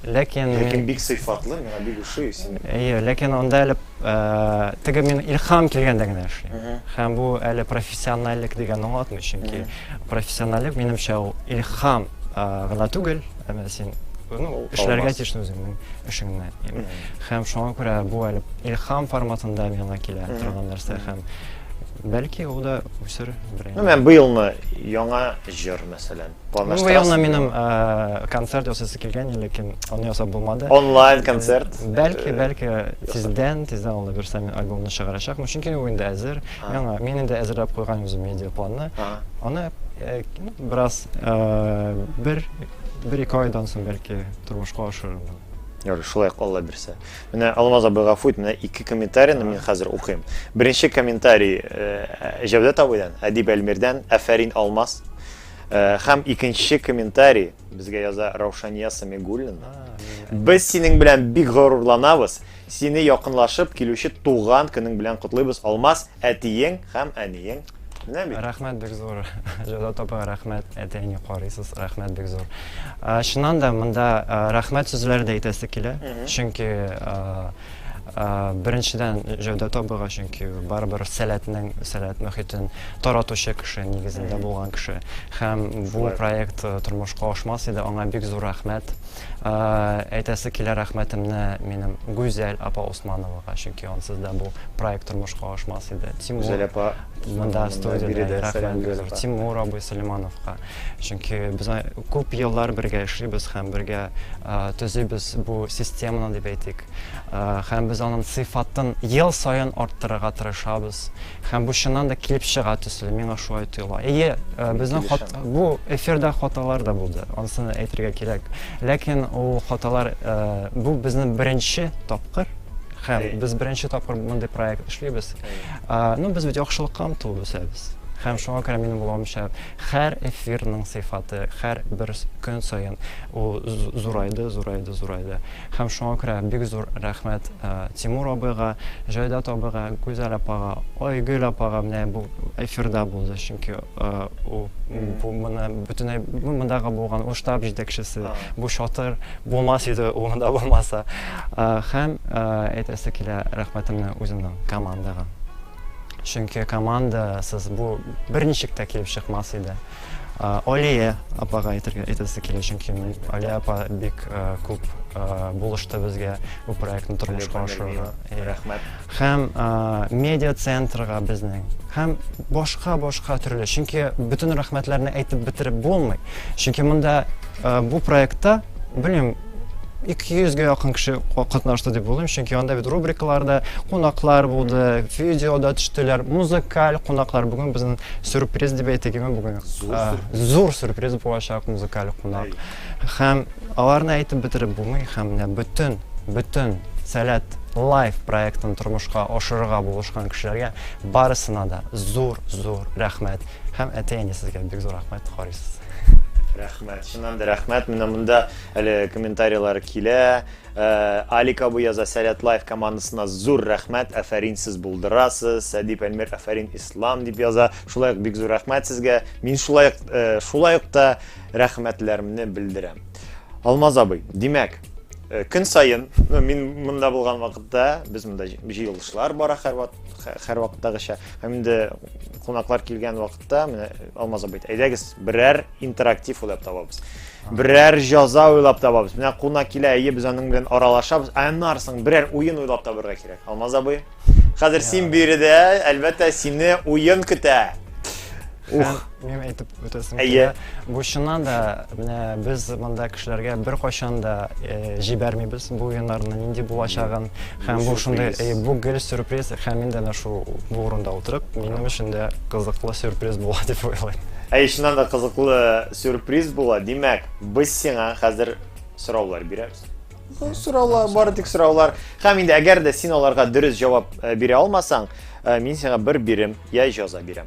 Ләкин мин... Ләкин бик сыйфатлы, миңа бик ошый син. Әйе, ләкин анда әле э, теге мин илһам килгәндә генә эшлим. Һәм бу әле профессиональлек дигән аңлатмый, чөнки профессиональлек минемчә ул илһам э, гына түгел, әмма син ну, эшләргә тиеш үзеңнең эшеңне. Һәм шуңа күрә бу әле илһам форматында миңа килә торган нәрсә һәм бәлки ул да үсер. Ну, мен быелны яңа җыр мәсәлән. Бу елны минем концерт ясыйсы килгән, ләкин аны ясап булмады. Онлайн концерт. Бәлки, бәлки тиздән, тиздән алла бирсә мин альбомны чыгарачакмын, чөнки ул инде әзер. Яңа, мин инде әзерләп куйган үзем медиапланны. Аны бераз бер, бер-ике айдан соң бәлки тормышка ашырырмын. Ярый, шулай алла бирсә. Менә Алмаз абый гафу ит, менә ике комментарийны мин хәзер укыйм. Беренче комментарий Җәүдәт абыйдан, Әдип Әлмирдән, Афәрин, Алмаз. Һәм икенче комментарий безгә яза Раушания Самигуллина. Без синең белән бик горурланабыз. Сине якынлашып килүче туган көнең белән котлыйбыз, Алмаз, әтиең һәм әниең. Менә бит. Рәхмәт бик зур. Җода тапа рәхмәт. Әтәйне карыйсыз. Рәхмәт бик зур. Чыннан да монда рәхмәт сүзләре дә әйтәсе килә. Чөнки Беренчедән, Җәүдәт абыйга, чөнки барыбер сәләтнең, сәләт мөхитен таратучы кеше, нигезендә булган кеше. Һәм бу проект тормышка ашмас иде, аңа бик зур рәхмәт. Әйтәсе килә рәхмәтемне минем Гүзәл апа Усмановага, чөнки ансыз да бу проект тормышка ашмас иде. Тимур. Гүзәл апа. Монда студиядә. Тимур абый Сөләймановка. Чөнки без Күп еллар бергә эшлибез һәм бергә төзибез бу системаны дип әйтик. Һәм без аның сыйфатын ел саен арттырырга тырышабыз. Һәм бу чыннан да килеп чыга төсле, миңа шулай тоела. Әйе, безнең бу эфирда хаталар да булды, ансын әйтергә кирәк. Ләкин ул хаталар, бу безнең беренче тапкыр һәм без беренче тапкыр мондый проект эшлибез. Ну, без бит яхшылыкка омтылып үсәбез. Һәм шуңа күрә минем уйлавымча, Хәр эфирның сыйфаты хәр бер көн саен ул зурайды, зурайды, зурайды. Һәм шуңа күрә бик зур рәхмәт Тимур абыйга, Җайдат абыйга, Гүзәл апага, Айгөл апага менә бу эфирда булды, чөнки ул бу моны бөтенләй бу мондагы булган ул штаб җитәкчесе, бу чатыр булмас иде ул монда булмаса. Һәм әйтәсе килә рәхмәтемне үземнең командага. Чөнки командасыз бу берничек тә килеп чыкмас иде. Алия апага әйтергә әйтәсе килә, чөнки Алия апа бик күп булышты безгә бу проектны тормышка ашыруга. Рәхмәт. Һәм медиа центрга безнең, һәм башка-башка төрле, чөнки бөтен рәхмәтләрне әйтеп бетереп булмый. Чөнки монда бу проектта белмим, 200 гә якын кеше катнашты дип уйлыйм, чөнки анда бит рубрикалар да, кунаклар булды, видео да төштеләр, музыкаль кунаклар. Бүген безнең сюрприз дип әйтегеме бүген? Зур, а, зур сюрприз булачак музыкаль кунак. Һәм аларны әйтеп бетереп булмый, һәм менә бөтен, бөтен Сәләт лайф проектын тормышка ашырырга булышкан кешеләргә барысына да зур-зур рәхмәт. Һәм әти-әнисезгә бик зур рәхмәт, Харис. Рәхмәт. Рәхмәт, чыннан да рәхмәт. Менә монда әле комментарийлар килә. Алик абый яза, Сәләт Лайф командасына зур рәхмәт, әфәрин, сез булдырасыз. Сәдип Әлмир, әфәрин, Ислам, дип яза. Шулай ук бик зур рәхмәт сезгә. Мин шулай ук, шулай ук та рәхмәтләремне белдерәм. Алмаз абый, димәк, көн саен, ну, мин монда булган вакытта, без монда җыелышлар бара һәрвакыттагыча. Һәм инде кунаклар килгән вакыт вакытта менә алмаз абый әйдәгез берәр интерактив уйлап табабыз берәр җаза уйлап табабыз менә кунак килә әйе без аның белән аралашабыз ә аннары соң берәр уен уйлап табырга кирәк алмаз абый хәзер син биредә әлбәттә сине уен көтә ух әйтеп үтәсем килә әйе Бу чыннан да менә без монда кешеләргә беркайчан да җибәрмибез бу уеннарны нинди булачагын һәм бу шундый бу гел сюрприз һәм мин дә менә шул бу урында утырып минем өчен дә кызыклы сюрприз була дип уйлыйм. Әй, чыннан да кызыклы сюрприз була. Димәк, без сиңа хәзер сораулар бирәбез. Сораулар, бары тик сораулар. Һәм инде әгәр дә син аларга дөрес җавап бирә алмасаң, мин сиңа бер бирем я җаза бирәм.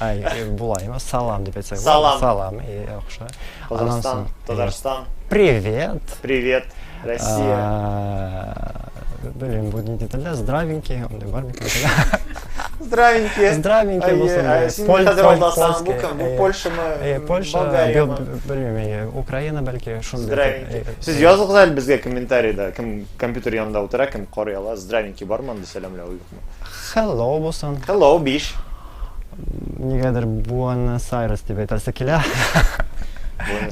Ай, э, булаймы? Салам дип әйтсәк. Салам. Салам, э, яхшы. Казахстан, Татарстан. Привет. Привет, Россия. Блин, будет не деталя, здравенький, он бар бит. Здравенький. Здравенький болсын. Э, син хәзер алдасаң, бу кем? Бу Польшамы? Польша, белмим, Украина бәлки шундый. Здравенький. Сез языгыз әле безгә комментарийда, кем компьютер янында утыра, кем карый ала, здравенький бармы анда сәламләү юк. Хеллоу булсын. Хеллоу, биш. Нигәдер Буэнос Айрес дип әйтәсе килә.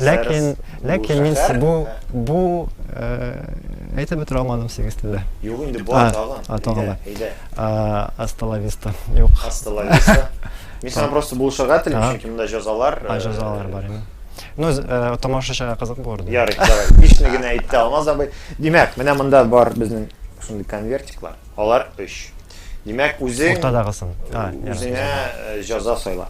Ләкин, ләкин мин бу, бу әйтеп бетерә алмадым сигез телдә. Юк инде, бу атаган. Атаган. Әйдә. Асталависта. Юк. Асталависта. Мин сиңа просто булышырга телим, чөнки монда җазалар. А, җазалар бар инде. Ну, э, тамашачыга кызык булыр. Ярый, давай. Бишне генә әйтте Алмаз абый. Димәк, менә монда бар безнең шундый конвертиклар. Алар өч. Димәк, үзең... Уртадагысын. Үзеңә җаза сайла.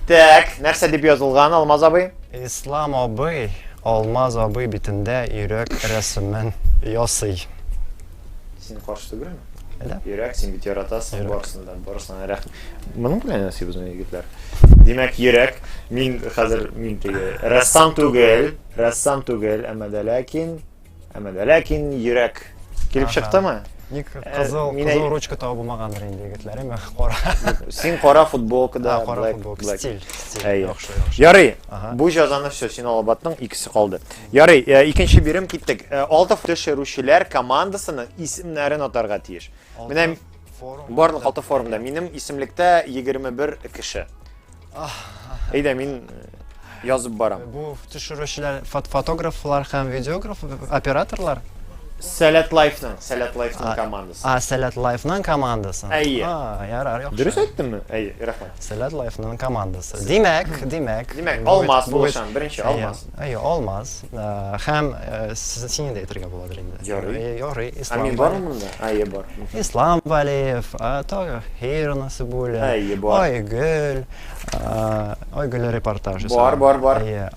Так, нәрсә дип язылган, Алмаз абый? Ислам абый Алмаз абый битендә йөрәк рәсемен ясый. Син каршы түгелме? Әллә? Йөрәк, син бит яратасың барысын да, барысына рәх. Моның белән ясый безнең егетләр. Димәк, йөрәк. Мин хәзер мин теге рәссам түгел, рәссам түгел, әмма дә ләкин Әмма дә ләкин йөрәк килеп чыктымы? Ник э, кызыл, мина... кызыл ручка тау булмагандыр инде егетләре, мә кара. Син кара футболка да, кара black, футболка, black. стиль, стиль. Әй, яхшы, яхшы. Ярый, ага. бу җазаны все, син алып аттың, икесе калды. Ярый, э, икенче бирем киттек. Э, алты төшерүчеләр командасының исемнәрен атарга тиеш. Менә барлык алты форумда минем исемлектә 21 кеше. Әйдә, мин э, язып барам. Бу төшерүчеләр фот фотографлар һәм видеограф операторлар. Сәләт Лайфның, Сәләт Лайфның командасы. А, Сәләт Лайфның командасы. Әйе. А, ярар, яхшы. Дөрес әйттемме? Әйе, рәхмәт. Сәләт Лайфның командасы. Димәк, димәк. Димәк, Алмаз булышам, беренче Алмаз. Әйе, алмаз. Һәм сине дә әйтергә буладыр инде. Ярый. Ярый, Ислам. Ә мин бармы монда? Әйе, бар. Ислам Валеев, Тагир Насыбуллин. Әйе, бар. Айгөл. Айгөл репортажы. Бар, бар, бар. Әйе.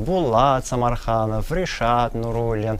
Булат Самарханов, Ришат Нуруллин.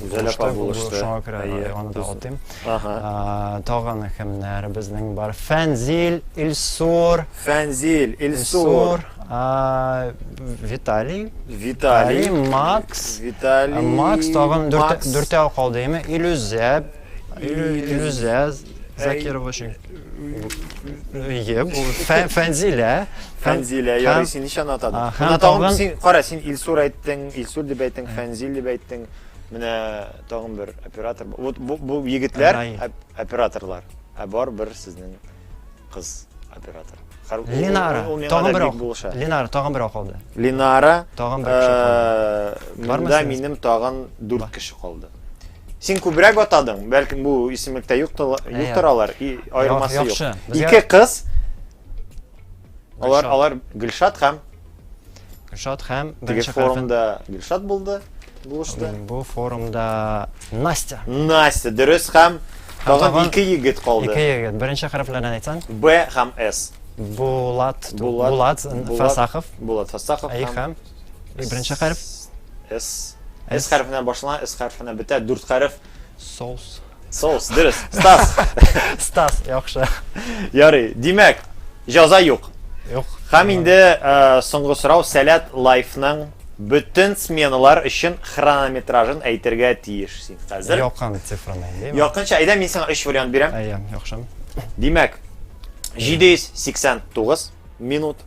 Гүзәл апа булышты. Шуңа күрә аны да атыйм. Тагын кемнәр безнең бар? Фәнзил, Илсур. Фәнзил, Илсур. Виталий. Виталий. Макс. Виталий. Макс тагын дүртәү калды, яме? Илүзә. Илүзә Закирова өчен. Әйе, бу Фә- Фәнзилә. Фәнзилә, Һәм- ярый, син ничәне атадың? А, һәм Менә тагын тагын- син, кара, син Илсур әйттең, Илсур дип әйттең, Фәнзил дип әйттең. Менә тагын бер оператор. бар. Вот бу, бу егетләр Рай. оп- операторлар. Ә бар бер сезнең кыз оператор. Хар- ул- Ленара. ул- ул миңа Тагын да бер бик ак. булыша. Ленара тагын бер акылды. Ленара. Тагын бер кеше э, Бармы Монда синең? минем тагын дүрт кеше калды. Син күбрәк атадың, бәлкем бу исемлектә юктыр, юктыр алар, аермасы юк. Ике кыз, алар, алар Гөлшат һәм... Гөлшат һәм... Теге форумда Гөлшат булды, булышты. Бу форумда Настя. Настя, дөрес һәм... Тагын ике егет калды. Ике егет. Беренче хәрефләрдән әйтсәң? Б һәм С. Булат, Булат, Булат Фасахов. Булат Фасахов һәм... Беренче хәреф. С. С хәрефенә башлана, С хәрефенә бетә. Дүрт хәреф. Соус. Соус, дөрес. Стас. Стас, яхшы. Ярый. Димәк, җаза юк. Юк. Һәм инде э, соңгы сорау Сәләт лайфның бөтен сменалар өчен хронометражын әйтергә тиеш син хәзер. Якын цифраны әйтәм. Якынча әйдә мин сиңа 3 вариант бирәм. Әйе, яхшы. Димәк, 789 минут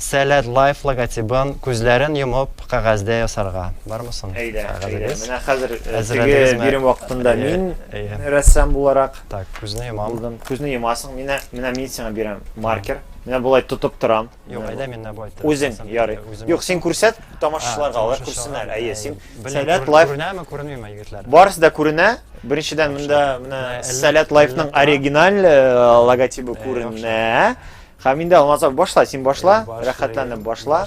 Сәләт Лайф логотибын күзләрен йомып кәгазьдә ясарга. Бармы соң кәгазегез? Менә хәзер теге бирем вакытында мин рәссам буларак булдым. Күзне йомасың, менә мин сиңа бирәм маркер. Менә болай тотып торам. Юк, әйдә мин менә болай тотам. Үзең, ярый. Юк, син күрсәт тамашачыларга, алар күрсеннәр. Әйе, син Сәләт Лайф. Күренәме, күренмиме, егетләр? Барысы да күренә. Беренчедән, монда менә Сәләт Лайфның оригиналь логотибы күренә. Хәминдә алмаса башла, син башла, рәхәтләнеп башла.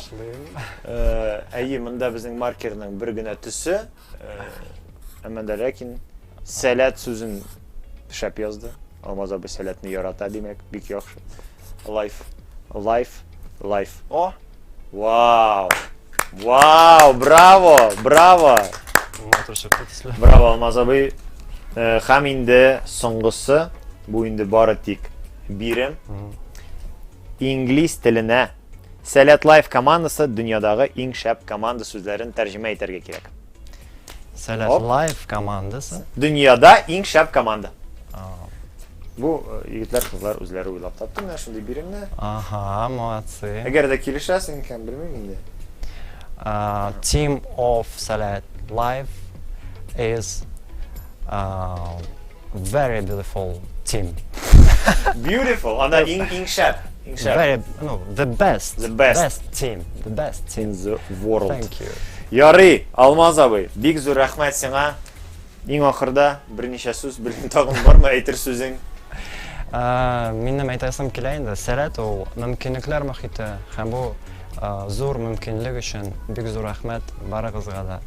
Әйе, монда безнең маркерның бер генә төсе. Әмма дә ләкин сәләт сүзен шәп язды. Алмаз абый сәләтне ярата, димәк, бик яхшы. Лайф, лайф, лайф. О, Вау! Вау! Браво! Браво! Матур чыкты төсле. Браво, Алмаз абый. Э, Хәм инде соңгысы, бу инде бары тик бирем. Инглиз теленә Сәләт Лайф командасы дөньядагы иң шәп команда сүзләрен тәрҗемә итәргә кирәк. Сәләт Оп. Лайф командасы. Дөньяда иң шәп команда. Ау. Бу э, егетләр, кызлар үзләре уйлап тапты менә шундый биремне. Ага, молодцы. Әгәр дә килешәсең икән, белмим инде. А, Team of Сәләт Лайф is Very beautiful team. Beautiful. Ана иң иң шәп. Иң шәп. Very, no, the best. The best. Best team. The best team. In the world. Thank you. Ярый, Алмаз абый, бик зур рәхмәт сиңа. Иң ахырда берничә сүз белән тагын бармы әйтер сүзең? Минем әйтәсем килә инде, сәләт ул мөмкинлекләр мөхите һәм бу зур мөмкинлек өчен бик зур рәхмәт барыгызга да.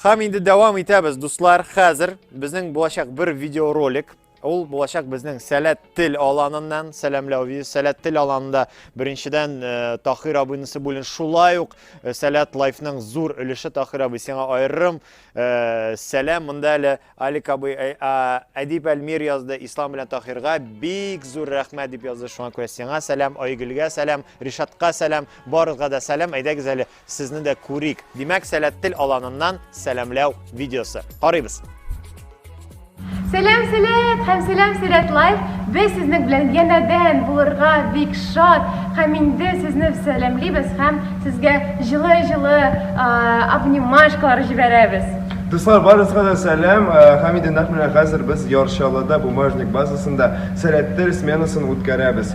Хам инде дәвам итәбез, дуслар. Хәзер безнең булачак бер видеоролик. Ул булачак безнең сәләт тел аланыннан, сәламләү видео. Сәләт тел аланында беренчедән э, Тахир абыйнысы бүлен шулай ук э, сәләт лайфның зур өлеше Тахир абый сиңа аерым э, сәлам. Монда әле Алик абый Әдип Әлмир язды, Ислам белән Тахирга бик зур рәхмәт дип язды. Шуңа күрә сиңа сәлам, Айгөлгә сәлам, Ришатка сәлам, барыгызга да сәлам. Әйдәгез әле Сезне дә күрик. Димәк, сәләт тел аланыннан сәламләү видеосы. Карыйбыз. Сәлам, сәләт һәм сәлам сәләт лайф. Без сезнең белән янәдән булырга бик шат һәм инде сезне сәламлибез һәм сезгә җылы-җылы обнимашкалар җибәрәбез. Дуслар, барысына да сәлам. Һәм инде нәкъ менә хәзер без Ярчалыда бумажник базасында сәләттер сменасын үткәрәбез.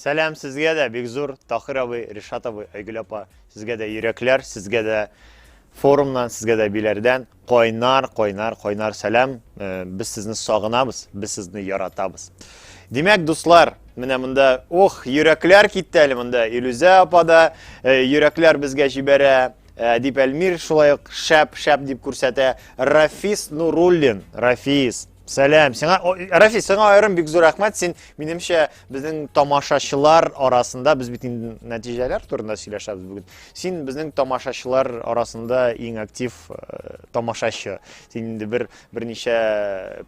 Сәлам сезгә дә, бик зур, Тахир абый, Ришат абый, Айгөл апа, сезгә дә йөрәкләр, сезгә дә форумнан, сезгә дә биләрдән кайнар, кайнар, кайнар сәлам. Э, без сезне сагынабыз, без сезне яратабыз. Димәк, дуслар, менә монда, ох, йөрәкләр китте әле монда. Илүзә апа да э, йөрәкләр безгә җибәрә. Э, дип Әлмир шулай ук шәп, шәп дип күрсәтә. Рафис Нуруллин, Рафис, Сәлам. Сиңа Рафи, сиңа аерым бик зур рәхмәт. Син минемчә безнең тамашачылар арасында без бит инде нәтиҗәләр турында сөйләшәбез бүген. Син безнең тамашачылар арасында иң актив э, тамашачы. Син инде бер берничә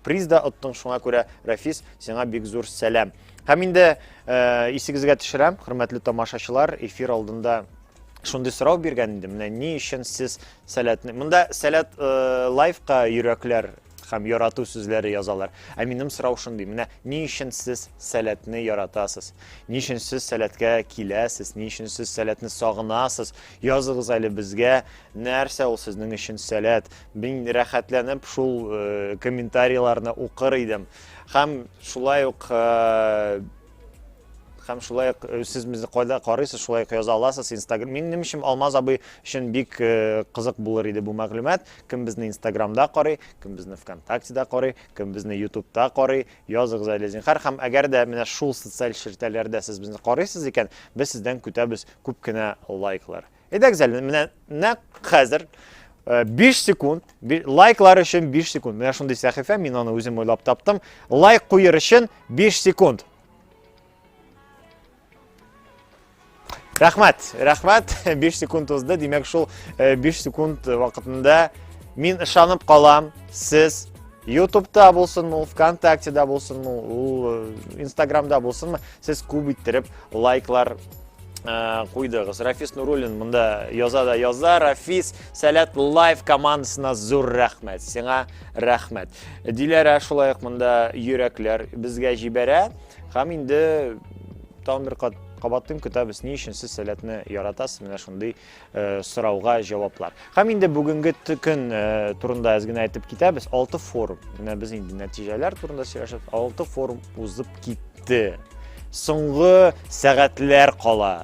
приз да оттың, шуңа күрә Рафис, сиңа бик зур сәлам. Һәм инде э, исегезгә төшерәм, хөрмәтле тамашачылар, эфир алдында шундый сорау биргән инде менә ни өчен сез сәләтне монда сәләт э, лайфка йөрәкләр һәм ярату сүзләре язалар. Ә минем сорау шундый, менә ни өчен сез сәләтне яратасыз? Ни өчен сез сәләткә киләсез? Ни өчен сез сәләтне сагынасыз? Языгыз әле безгә, нәрсә ул сезнең өчен сәләт? Мин рәхәтләнеп шул э, комментарийларны укыр идем. Һәм шулай ук э, һәм шулай ук э, сез безне кайда карыйсыз шулай ук яза аласыз инстаграм минем өчен алмаз абый өчен бик э, кызык булыр иде бу мәгълүмат кем безне инстаграмда карый кем безне вконтактеда карый кем безне ютубта карый языгыз әле зинхар һәм әгәр дә менә шул социаль челтәрләрдә сез безне карыйсыз икән без сездән көтәбез күп кенә лайклар Әйдәгез әле, менә нәкъ хәзер 5 э, секунд, лайклар өчен 5 секунд. Менә шундый сәхифә, мин аны үзем уйлап таптым. Лайк куер өчен 5 секунд. Рәхмәт, рәхмәт. 5 секунд узды. Димәк, шул 5 э, секунд вакытында мин ышанып калам, сез ютубта булсынмы ул вконтактеда булсынмы ул инстаграмда э, булсынмы сез күп иттереп лайклар Э, куйдыгыз рафис нуруллин мында яза да яза рафис сәләт лайф командасына зур рәхмәт сиңа рәхмәт диләрә шулай ук мында йөрәкләр безгә җибәрә һәм инде тагын бер кат кабатлыйм көтәбез ни өчен сез сәләтне яратасыз менә шундый сорауга җаваплар. Һәм инде бүгенге көн турында әз генә әйтеп китәбез. 6 форум. Менә без инде нәтиҗәләр турында сөйләшәбез. 6 форум узып китте. Соңгы сәгатьләр кала.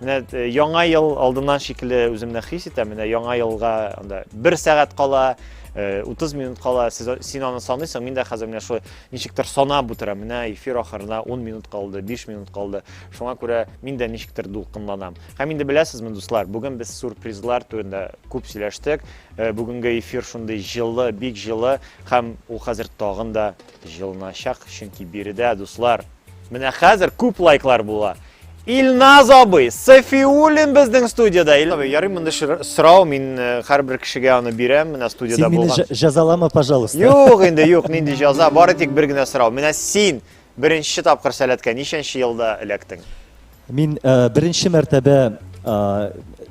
Менә э, яңа ел алдыннан шикелле үземне хис итәм. Менә яңа елга анда 1 сәгать кала, 30 э, минут кала. Сез син аны саныйсың, мин дә хәзер менә шулай ничектер санап утырам. Менә эфир ахырына 10 минут калды, 5 минут калды. Шуңа күрә мин дә ничектер дулкынланам. Һәм инде беләсезме, дуслар, бүген без сюрпризлар турында күп сөйләштек. Э, бүгенге эфир шундый җылы, бик җылы һәм ул хәзер тагын да җылыначак, чөнки биредә, дуслар, менә хәзер күп лайклар була. Илназ абый, Сафиуллин безнең студияда. Илназ абый, ярый монда сорау, мин э, һәрбер кешегә аны бирәм, менә студияда булган. Син мине җазалама, пожалуйста. Юк инде, юк, нинди җаза, бары тик бер генә сорау. Менә син Беренче тапкыр сәләткә ничәнче елда эләктең? Мин беренче мәртәбә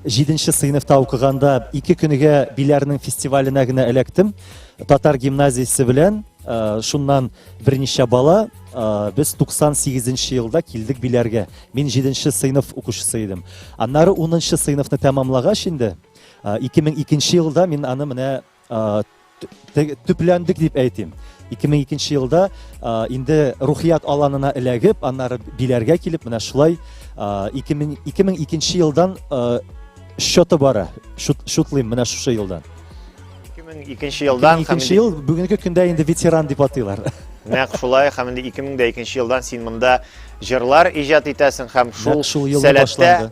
җиденче сыйныфта укыганда ике көнегә Биләрнең фестиваленә генә эләктем. Татар гимназиясе белән шуннан берничә бала без 98 нче елда килдек Биләргә. Мин җиденче сыйныф укучысы идем. Аннары унынчы сыйныфны тәмамлагач инде 2002 нче елда мин аны менә төпләндек дип әйтим 2002 елда инде рухият аланына эләгеп аннары биләргә килеп менә шулай 2002 елдан счеты бара шутлыйм менә шушы елдан 2002 елдан 2002 ел бүгенге көндә инде ветеран дип атыйлар нәкъ шулай һәм инде 2002 елдан син монда җырлар иҗат итәсең һәм шул сәләттә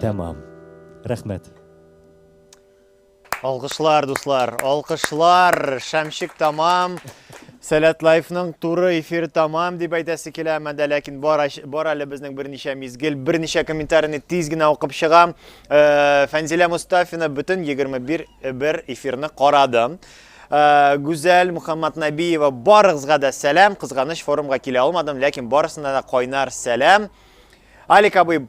Тәмам. Рәхмәт. Алкышлар, дуслар, алкышлар. Шәмшик тамам. Сәләт лайфның туры эфир тамам дип әйтәсе килә, әмма дә ләкин бар, бар әле безнең берничә мизгел, берничә комментарийны тиз генә укып чыгам. Э, Фәнзилә Мустафина бөтен 21 э, бер эфирны карады. Э, Гүзәл Мухаммад Набиева барыгызга да сәлам, кызганыч форумга килә алмадым, ләкин барысына да кайнар сәлам. Алик абый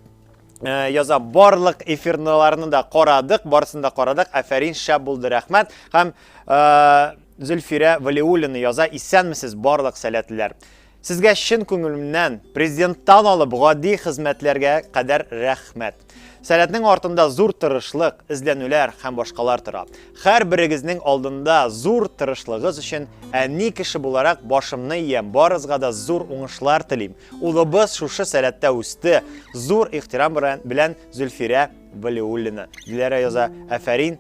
Э, яза барлык эфирныларны да карадык барысын да карадык әфәрин шәп булды рәхмәт һәм э, зөлфирә валиуллина яза исәнмесез барлык сәләтлеләр сезгә чын күңелемнән президенттан алып гади хезмәтләргә кадәр рәхмәт Сәләтнең артында зур тырышлык, эзләнүләр һәм башкалар тора. Хәр берегезнең алдында зур тырышлыгыз өчен әни кеше буларак башымны иям, барызга да зур уңышлар телим. Улыбыз шушы сәләттә үсте. Зур ихтирам белән Зөлфирә Валиуллина. Диләрә яза, әфәрин,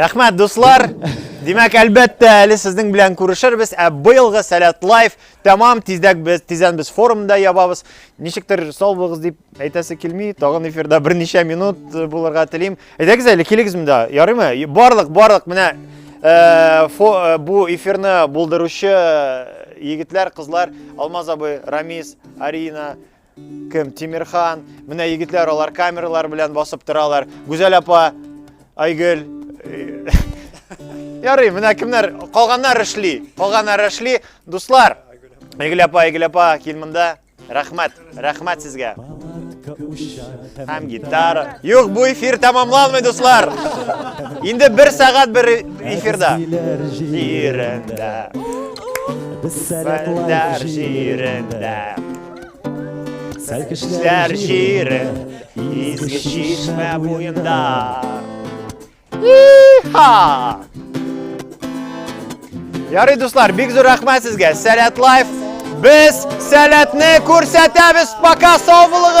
Рәхмәт, дуслар! Димәк, әлбәттә, әле сезнең белән күрешербез, ә быелгы Сәләт Лайф тәмам тиздәк без тиздән без форумда ябабыз. Ничектер сау булыгыз дип әйтәсе килми, тагын эфирда берничә минут э, булырга телим. Әйдәгез әле килегез монда, ярыймы? Барлык, барлык менә э, э, бу эфирны булдыручы егетләр, кызлар, Алмаз абый, Рамис, Арина, кем? Тимирхан. Менә егетләр алар камералар белән басып торалар. Гүзәл апа, Айгөл. Ярый, менә кемнәр? Калганнар эшли. Калганнар эшли. Дуслар, Айгөл апа, Айгөл апа, кил монда. Рәхмәт, рәхмәт сезгә. Һәм гитара. Юк, бу эфир тәмамланмый, дуслар. Инде бер сәгать бер эфирда. Җирендә. Сәләтләр җирендә. Сәлкешләр җире. Изге чишмә буенда. Иха! Ярый, дуслар, бик зур рәхмәт сезгә. Сәләт лайф. Без сәләтне күрсәтәбез, пока сау булыгыз!